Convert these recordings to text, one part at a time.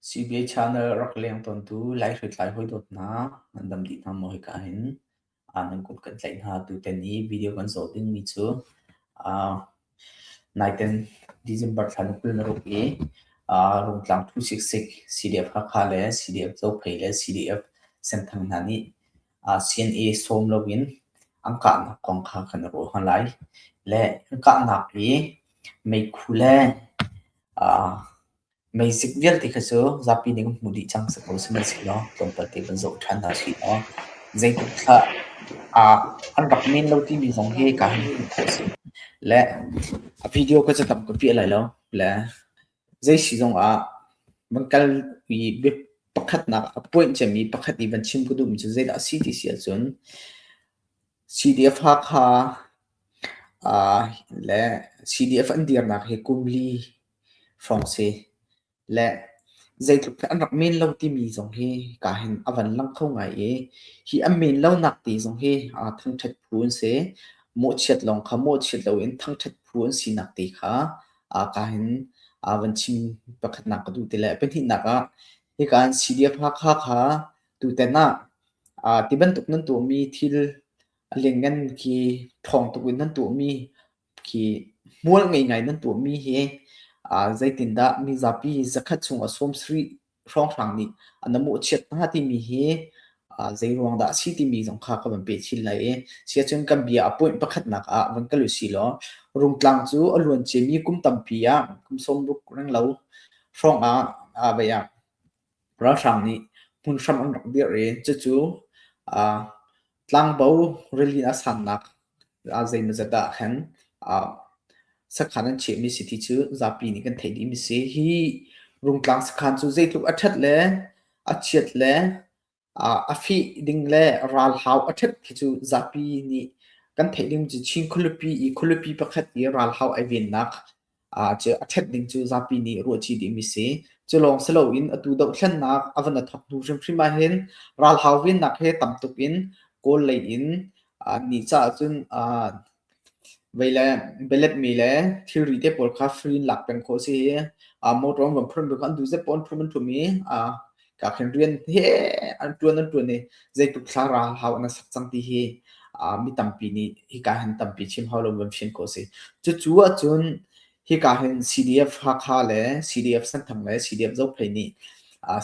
CBA channel rak leng tawntu Lai hriamtlai hawi dawt hna nan dam dih hna maw hika hin nan kut kan tlaih hna tuten i video kan zoh dingmi cu naiten December thla ni kul na ruk i Rungtlang 266 CDF Hakha le CDF Zophei le CDF Senthang hna nih sin i sawm loin an kahnak kong kha kan i ruahman lai. Le an kahnak i meikhu le aa meizik vialte kha cu zapi nih kan hmuh dih cang si ko sihmanhsehlaw tlawmpal te van zoh ṭhan hna sih law zeitluk thlah ah an rak men lo timi zong hi ka han hmuh khawh a si. Le a video kha cu tam ka piah lai lo. Le Zei si zongah van kal i bia pakhatnak a puanh cemmi pakhat i van chim ka duhmi cu zeidah a si ti si ahcun CDF Hakha ah le CDF an dirnak hi kum li hrawng si le zeitluk hi an rak men lo timi zong hi kaa hin a van lang kho ngai i hi an men lonak te zong hi thangṭhat phu an si. Mawhchiat lawng kha mawhchiat loin thangṭhat phu an sinak te kha ah ka hin aa van chim pakhatnak ka duh ti le pahnihnak ah hika an CDF Hakha kha tutan ah aa ti bantuk nan tuahmi thil lengan khi ṭhawng tuk in nan tuahmi khi hmual ngei ngai nan tuahmi hi aa zeitindah mizapi zakhat chung a sawm sarih hrawnghrang nih na mawhchiat hna timi hi zeiruang dah a si timi zong kha ka van pe chin lai i siacun kan bia a point pakhatnak ah van kal u si law rungtlang cu a luan ciami kum tampi ah kum sawmruk renglo hrawng ah vei ah ralhrang nih hmun hram an rak dirh i cucu Tlangbo rili a sannak ah zeimawzat ah khan sakhan an chiahmi si ti cu zapi nih kan theih dihmi si. Hi Rungtlang sakhan cu zeitluk a ṭhat le a chiat le a fih ding le ralhau a ṭhat khi cu zapi nih kan theih ding cu Chin khualipi i khualipi pakhat i ralhau ai vennak Ah cu a ṭhet ding cu zapi nih ruahṭi dihmi si. Culawng si loin atu dohthlennak a van a thawk hnu hrimhrim ahhin ralhau vennak he tam tuk in Kawl lei in ah nih caah cun ah vei le beletmi le thilri te pawl kha free in lak peng khawh a si i ah motor an van phurh hnu khan an duh zet pawh an phurh an ṭhum i ah ka khin rian he an tuan an tuan i zeitluk thlaraha hau an sak cang ti hi mi tampi nih hika hin tampi chim hau lo van fin ko si cucu ahcun hika hin CDF Hakha le CDF Santhang le CDF Zophei nih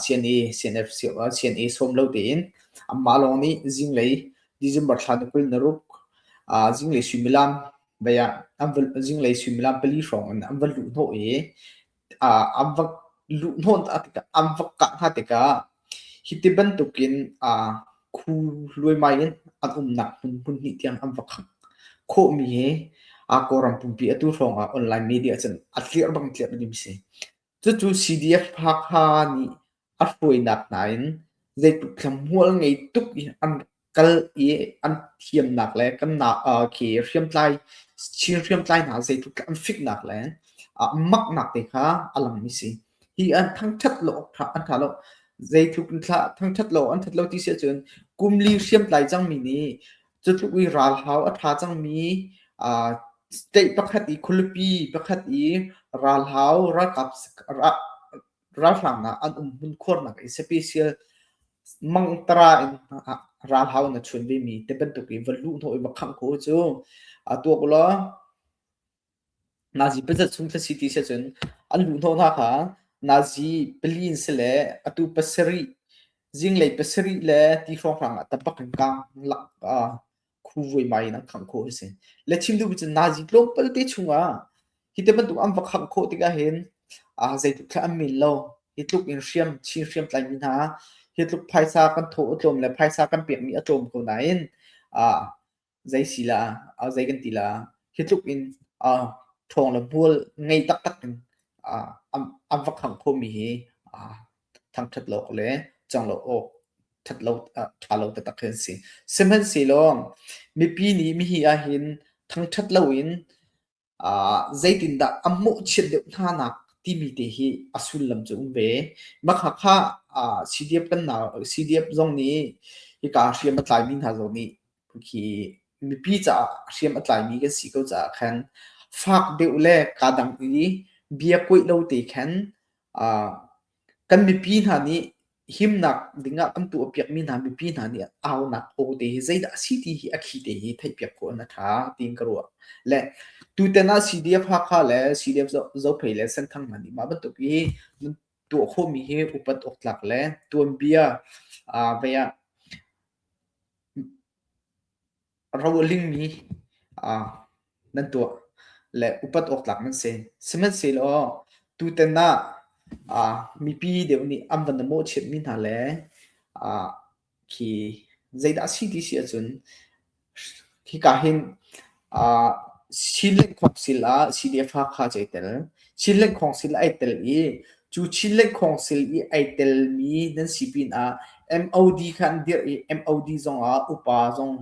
CNE CNF CNE sawm lo tein amah lawng nih zinglei December thla ni kul naruk zinglei suimilam baya zinglei suimilam pali hrawng in an va luh hnawh i an va luh hnawh tikah an va kah hna tikah hi ti bantukin khu luaimai in an umnak hmun hmunhnih tiang an va khangh khawhmi hi Kawlram pumpi atu hrawngah online media cun a tlir bang tlir ding a si. Cucu CDF Hakha nih a hruainak hna in zeitluk thlamual ngei tuk i an kal i an thiamnak le kan na khi hriamtlai chin hriamtlai hna zeitluk an fiknak le maknak te kha a langmi si hi an thangthat lo an tha lo zeitluk thangthat lo an that lo ti si cun kumli hriamtlai cangmi nih cutluk i ralhau a tha cangmi state pakhat i khualipi pakhat i ralhau ralkap ralhrang ah an um hmunkhuarnak i special mangtara in ralhau na chun vemi te bantuk i va luh hnawh i va khangh ko cu a tuak ulaw nazi pazat chung thasi ti si cun an luh hnawh hna kha nazi pali in si le atu pasarih zinglei pasarih le ti hrawnghrang ah tapak in kang lak khu vuimai in an khangh khawh a si le chim duh cun nazi tlawmpal te chungah hi te bantuk an va khangh khawh tikah hin ah zeitluk thlah an min lo hi tluk in hriam chin hriam tlaimi hna hi tluk phaisa kan thaw a tlawm le phaisa kan pekmi a tlawm ko nain ah zei si la zei kan ti la hi tluk in ṭhawng le bual ngei taktak in an va khangh khomi hi thangṭhat lo le cang lo awk ṭhat lo ah ṭha lo taktak hi an si. Sihmanhsehlaw mipi nih mihi ahhin thangṭhat loin uh, zeitindah a mawhchiat deuh hna nak timi te hi a sullam cu um ve. Makhakha uh, CDF kannak CDF zong nih hika hriam a tlaimi hna zong nih khi mipi caah hriam a tlaimi kan si ko caah khan fak deuh le kaa dang i bia kuaih lo te khan kan mipi hna nih himnak dingah kan tuah piakmi hna mipi hna nih aunak aw te hi zeidah a si ti hi a khi te hi theihpiak khawh an tha tiin ka ruah le tutan ah CDF Hakha le CDF Zophei le Senthang hna nih mah bantuk hi tuah khawhmi hi upat awk tlak le tuanbia vei ah ro a lingmi ah nan tuah le upat awktlak nan si. Sihmanhsehlaw tutan ah ah mipi deuh nih an van na mawhchiatmi hna le ah khi zeidah a si ti si ahcun hika hin ah sii lengkhawk sil ah sii le fa kha zei tel Chin Lengkhawng sil ai tel i cu Chin Lengkhawng sil i ai telmi nan si pinah MOD kha an dirh i MOD zongah upa zong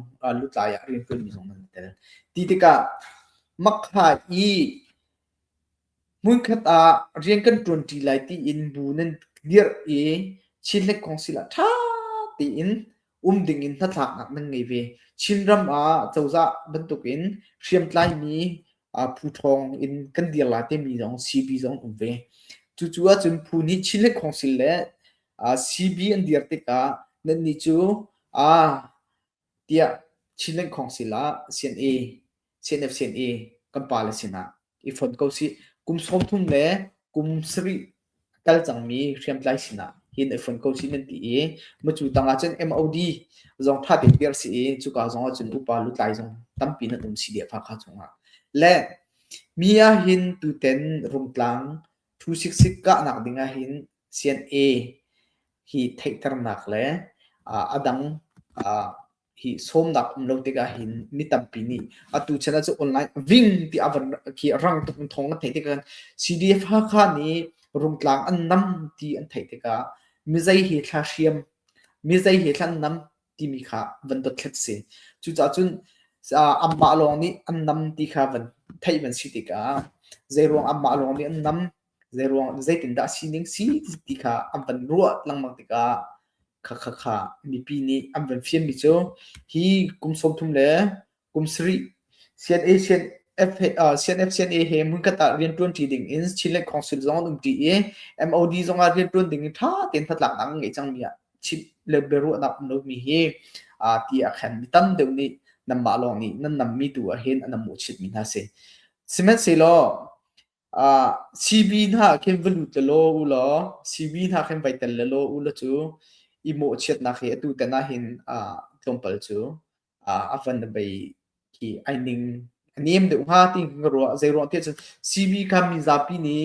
lutlai ah rianṭuanmi zong nan tel. Ti tikah makha i hmunkhat ah rian kan ṭuanṭi lai tiin bu nan dirh i Chin Lengkhawng sil ah ṭha tein um dingin hnatlaknak nan ngei ve. Chinram ah cozah bantukin hriamtlaimi phu thawng in kan dirla timi zong CB zong um ve. Cucu ahcun phu nih Chin le Khawngsil le CB an dir tikah nannih cu tiah Chin le Khawngsil ah CNA, CNF-CNA kan pa le sinah i fonh ko sih. Kum sawmthum le kum sarih a kal cangmi hriamtlai sinah hin i fonh ko sih nan ti i macu tangah cun MOD zong tha tein piar si i cuka zong ah cun upa lutlai zong tampi nan um si deh Fakha chungah. Le mi ah hin tuten Rumtlang 266 kahnak ding ah hin CNA hi theihternak le a dang hi sawmnak um lo tikah hin mi tampi nih atu channel cu online ving ti a van khi rang tuk thong an theih tikah CDF Hakha nih rungtlang an nam ti an theih tikah mizei hi thla hriam mizei he thlan nam timi kha van dot thlet si cucaah cun amah lawng nih an nam ti kha van theih van si tikah zeiruang amah lawng nih an nam zeiruang zeitindah sining si ti kha an van ruah lengmang tikah kha kha kha mipi nih an van fianmi cu hi kum sawmthum le kum sarih CNA CNF CNA he hmunkhat ah rianṭuanṭi ding in Chinland Council zong an umṭi i MOD zong ah rianṭuan ding in ṭha tein hnatlaknak an ngei cangmi ah Chin le biaruahnak um lomi hi ti ah khan mi tam deuh nih nanmah lawng nih nan nammi tu ahhin an mawhchitmi hna si. Sihmanhsehlaw Sibi hna ah khin va lut la law u law sibi hna khin vai tel la law u law cu i mawhchiatnak hi atu tan ahhin tlawmpal cu a van a bei khi ai ning a nem deuh hnga ti ka ruah. Zei ruang tiah cun sibi kha mi zapi nih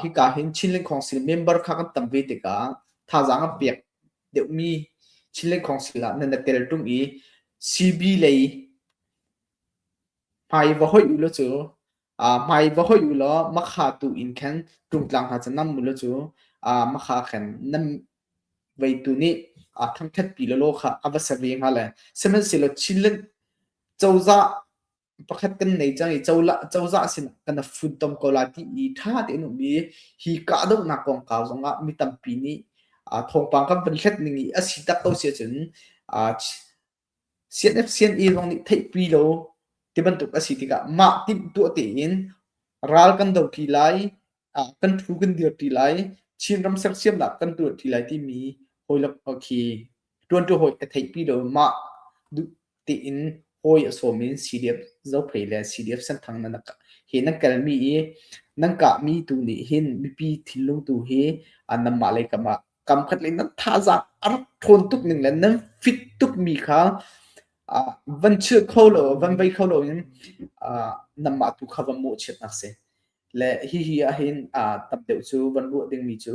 hika hin Chinland Council member kha kan tam ve tikah thazaang an pek deuhmi Chinland Council ah nan i tel ṭung i sibi lei hmai va hoih u law cu Hmai va hoih u law makha tu in khan ṭungtlang hna cu nam u law cu makha khan nam veitu nih thangṭhatpi lawlaw kha a va sa ve hnga le sihmanhsehlaw chilinh cozah pakhat kan nei cang i cozah sinah kana funtom ko lai ti i ṭha tein um i hi kahdohnak kongkau zongah mi tampi nih thawngpang kan vun hlet ning i a si tak ko si ahcun CNFCNE zong nih theihpi lo tibantuk a si tikah mah timh tuah tein ral kan do ṭi lai, kan ṭhu kan dirṭi lai, Chinram sersiamnak kan tuahṭi lai timi hawilok khi ṭuanṭu hawi ka theihpi lo. Mah duh tein hawi a sawm in CDF Zophei le CDF Senthang he nan kalmi i nan kahmi tu nih hin mipi thinlung tu hi nanmah le kamah kamkhat ning nan thazaang a rak ṭhawn tuk ning le nan fit tukmi kha uh, van chil kho lo van vei kho lo in uh, nanmah tu kha van mawhchiatnak si le hi hi ahhin uh, tam deuh cu van ruah dingmi cu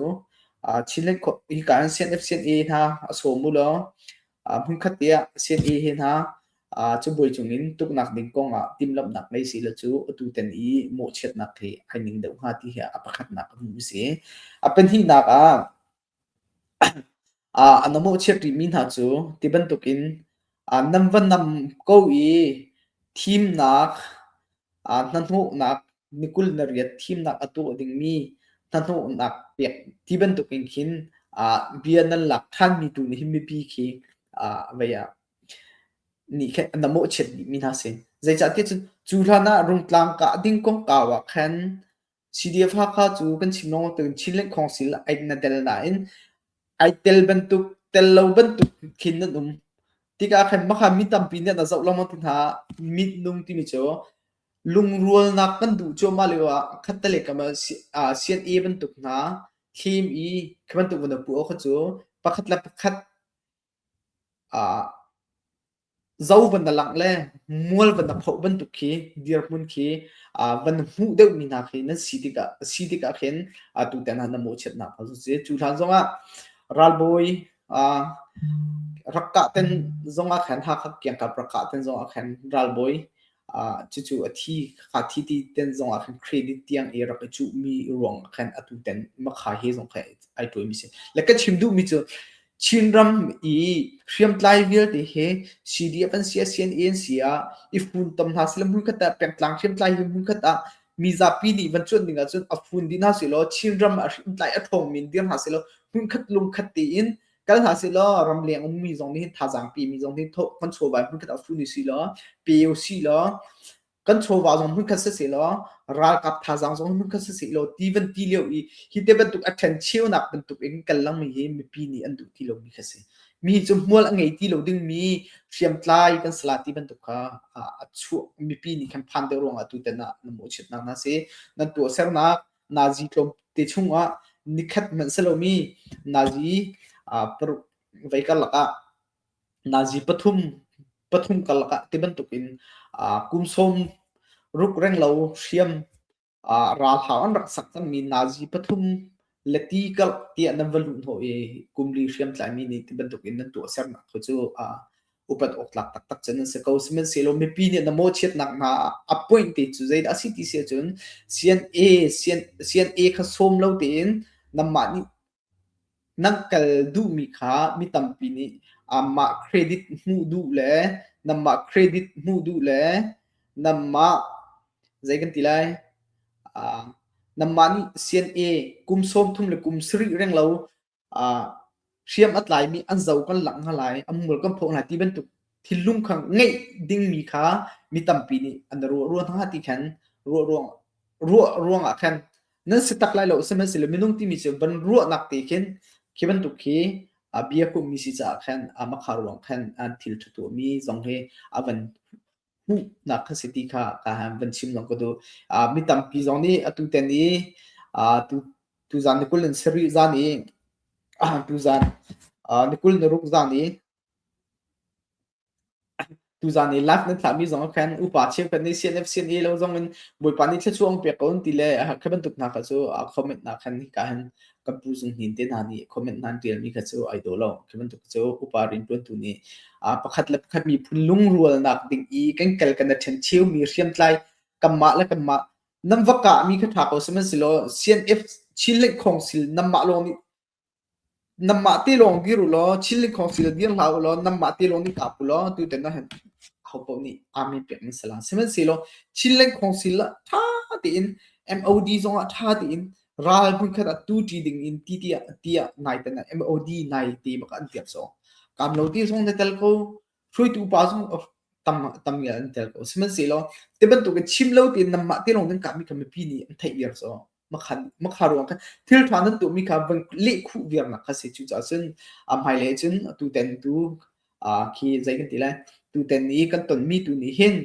uh, chinlen kho hi kan CNF CNE hna a sawm u law uh, hmunkhat tiah CNE hi hna Uh, cabuai cungin tuknak ding kong ah timhlamhnak ngei si lo cu atu ten i mawhchiatnak hi hai ning deuh hnga ti hi a pakhatnak a hmuh si. A pahnihnak ah uh, an mawhchiat rihmi hna cu ti bantukin uh, nam va nam ko i thimnak uh, hnahnawhnak nikul na riat thimnak a tuah dingmi hnahnawhnak pek ti bantukin khin uh, bia nan lak ṭhanmi tu nih hin mipi khi uh, vaya nih khin na mawhchiat dihmi hna si. Zeicahtiah cu, cu hlan ah rungtlang kah ding kongkau ah khan CDF Hakha cu kan chim lawngawng tein Chinland Council ah ai na tel nain ai tel bantuk, tel lo bantuk khin nan um. Tikah khan mahka mi tampi nih na zoh lengmang ti hna. Mit nung timi cu lungrualnak kan duh cuahmah lio ah khatte le kama CNA bantuk hna thim i khi bantuk na puh kha cu pakhat le pakhat ah zo van na langh le mual van na phoh bantuk khi dirhmun khi uh, van hmuh deuhmi hna khi nan si tikah si tikah khin uh, tu te hna na mawhchiatnak hal si cu hlan zongah ralbawi uh, rakka ten zongah khan hakak kiangkap rakka ten zongah khan ralbawi cucu a thi kha thi ti ten zong ah khan credit tiang i rak i cuhmi ruang ah khan atu ten makha he zong khan ai tuami si le ka chim duhmi cu Chinram i hriamtlai vialte he CDF an sia CNANC ah i fun tam hna sila mun khat ah pengtlang hriamtlai hi mun khat ah mi zapi nih van cuan ding ahcun a fun di hna silaw Chinram ah hriamtlai a ṭhawngmi dir hna silaw mun khat lung khat tiin kal hna si law ram leng ummi zong nih thazaang pimi zong nih kan chawva hmunkhat ah funu si law peu si law kan chawva zong hmunkhat si si law ralkap thazaang zong hmunkhat si si law ti van ti leo i hi te bantuk a ṭhen cheunak bantuk in kan langmi hi mipi nih an duh ti lomi kha si mi cu mual a ngei ti lo dingmi hriamtlai kan sala ti bantuk kha a chuak mipi nih khan phan deuh ruang ah tutan ah na mawh chitnak na si nan tuah sernak Nazi tlawmte chungah nikhat hmanh si lomi Nazi paruk vei karlak ah Nazi pathum pathum karlak ah ti bantukin kum sawm ruk renglo hriam ralhau an rak sak cangmi Nazi pathum le ti karlak tiah nan va luh hnawh i kum li hriam tlaimi nih ti bantukin nan tuahsernak kha cu upat awktlak taktak cun an si ko sihmanhsehlaw mipi nih na mawchiatnak hna a point te cu zeidah a si ti si ahcun CNA CNA kha sawm lo tein nanmah nih nan kal duhmi kha mi tampi nih mah credit hmuh duh le nanmah credit hmuh duh le nanmah zei kan ti lai nanmah nih CNA kum sawm thum le kum sarih reng lo hriam a tlaimi an zo kan langh hna lai, an mul kan phawk hna ti bantuk thil lungkhang ngeih dingmi kha mi tampi nih an ruah hna ti khan ruah ruang ruah ruangah khan nan si tak lai lo sihmanhsehlaw minung timi cu van ruahnak te khin khi bantuk khi a bia kummi si caah khan a makha ruang khan an thil ṭha tuahmi zong hi a van hmuhnak kan si ti kha van chim zong ka duh. Uh, mi tampi zong nih atu ten i uh, tu, tuzaan ni kul in sarih zaan i uh, tuzaan uh, ni kul ni ruk zaan i tuzaan i lak nan thlahmi zong khan upa cheu kan nei CNF sin i lo zong in bawipa ni thla chuang pe ko ti le kha bantuk hna kha cu comment na khan ka han kan pu zunghin te hna nih comment nan tialmi kha cu ai daw lo khi bantuk cu upa riantuantu nih pakhat le pakhat miphun lungrualnak ding i kan kal kan ṭhen cheumi hriamtlai kanmah le kanmah nam va kah mi kha ṭha ko sihmanhsehlaw CNF Chin Link Khong sil nammah lawng nih nammah te lawng dir ulaw Chin Link Khong sil dir hlah ulaw nammah te lawng nih kap ulaw tu ten na han hopoh nih amin pek min salang sihmanhsehlaw Chin Link Khong sil ṭha tein MOD zong ah ṭha tein Ral hmunkhat ah tuṭi ding in ti tiah tiah nai tan ah MOD nai te bak an tiak sawh. Kam lo ti zong na tel ko, hruaitu pa zong tam tam ya an tel ko. Sihmanhsehlaw te bantuk i chim lo te nam mah te lawng nan kami kami pi nih an theih viar sawh. Makhan makha ruang kha thil ṭha nan tuahmi kha van leh khuh viar nak kha si cu caah cun a hmailei cun tu ten tu khi zei kan ti lai tu ten i kan tonmi tu nih hin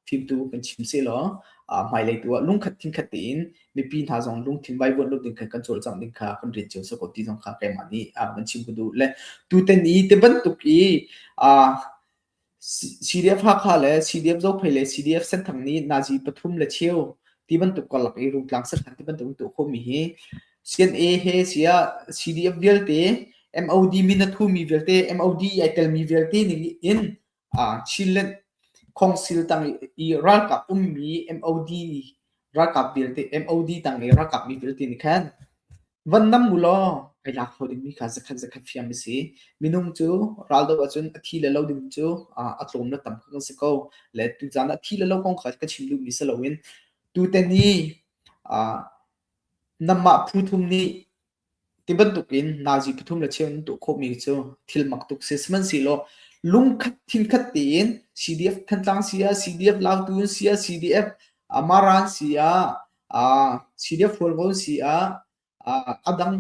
fimtu kan chim sehlaw hmailei tu ah lungkhat thingkhat tein mipi hna zong lungthin vaivuan lo ding khan kan cawlcangh ding kha kan rian cio sak ti zong kha keimah nih kan chim ku duh le tutan i te bantuk i CDF Hakha le CDF Zophei le CDF Senthang nih Nazi pathum le cheu ti bantuk kalak i rungtlang sakhan ti bantuk tu khomi hi CNA he sia CDF vialte MOD minathu mi vialte MOD ai telmi vialte ning in Chinland khawngsil tang i ralkap ummi MOD ralkap vialte MOD tang i ralkap mi vialte nih khan van nam u law ai lak kho dingmi kha zakhat zakhat hriam a si. Minung cu raldo ahcun a thi le lo ding cu a tlawm le tam kha kan si ko. Le tuzan a thi le lo kong kha ka chim duhmi si loin tuten i namah phu thum nih Ti bantukin Nazi pathum le cheu in tuah khawhmi cu thil mak tuk si. Sihmanhsehlaw lungkhat thinkhat tein CDF Thantlang si ah CDF Lautun si ah CDF Amara an si ah uh, CDF Hualvo si ah uh, adang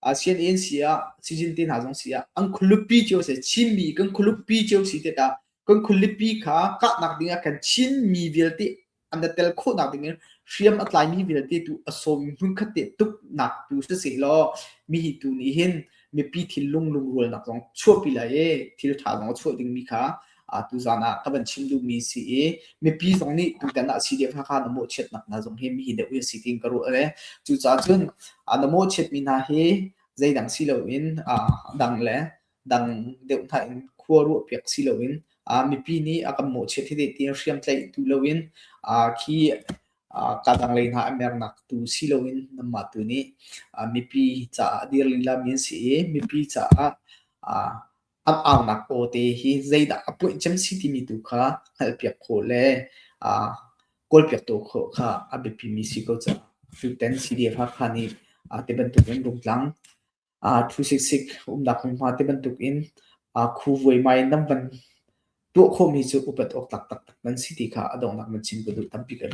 uh, CNA an si ah Sijilti hna zong si ah an khualupi cio si Chinmi kan khualupi cio si tikah kan khualipi kha kahnak ding ah kan Chinmi vialte an tel khawhnak dingin hriam a tlaimi vialte tu a sawmi hmunkhat te tuknak tu si seh law mi hi tu nih hin mipi thil lung lungrualnak zong chuahpi lai e thil tha zong a chuah dingmi kha tu zan ah ka van chim duhmi si i mipi zong nih tutan ah si dek kha na mawh chiat nak hna zong hi mi hi deuh si tin ka ruah le cucah cun na mawh chiat mi hna hi zeidang si loin dang le dang deuh hna in khua ruahpiak si loin uh, mipi nih a kan mawhchiat hi ti in hriamtlaih tu loin uh, khi uh, kadang lei hna mernak tu si loin namma tu nih uh, mipi caah dir lila min si i mipi caah uh, am aunak ko te hi zeidah a puih cem si timi tu kha hngalpiak kho le uh, kawlpiak to kho kha a biapi mi si ko ca fiuten si dia kha khani uh, te bantuk in rungtlang thu siksik umnak hmunhma ti bantukin khu vuaimai in nan van tuah khawhmi cu upat awk taktak nan si ti kha a donghnak man chim ka duh tampi kan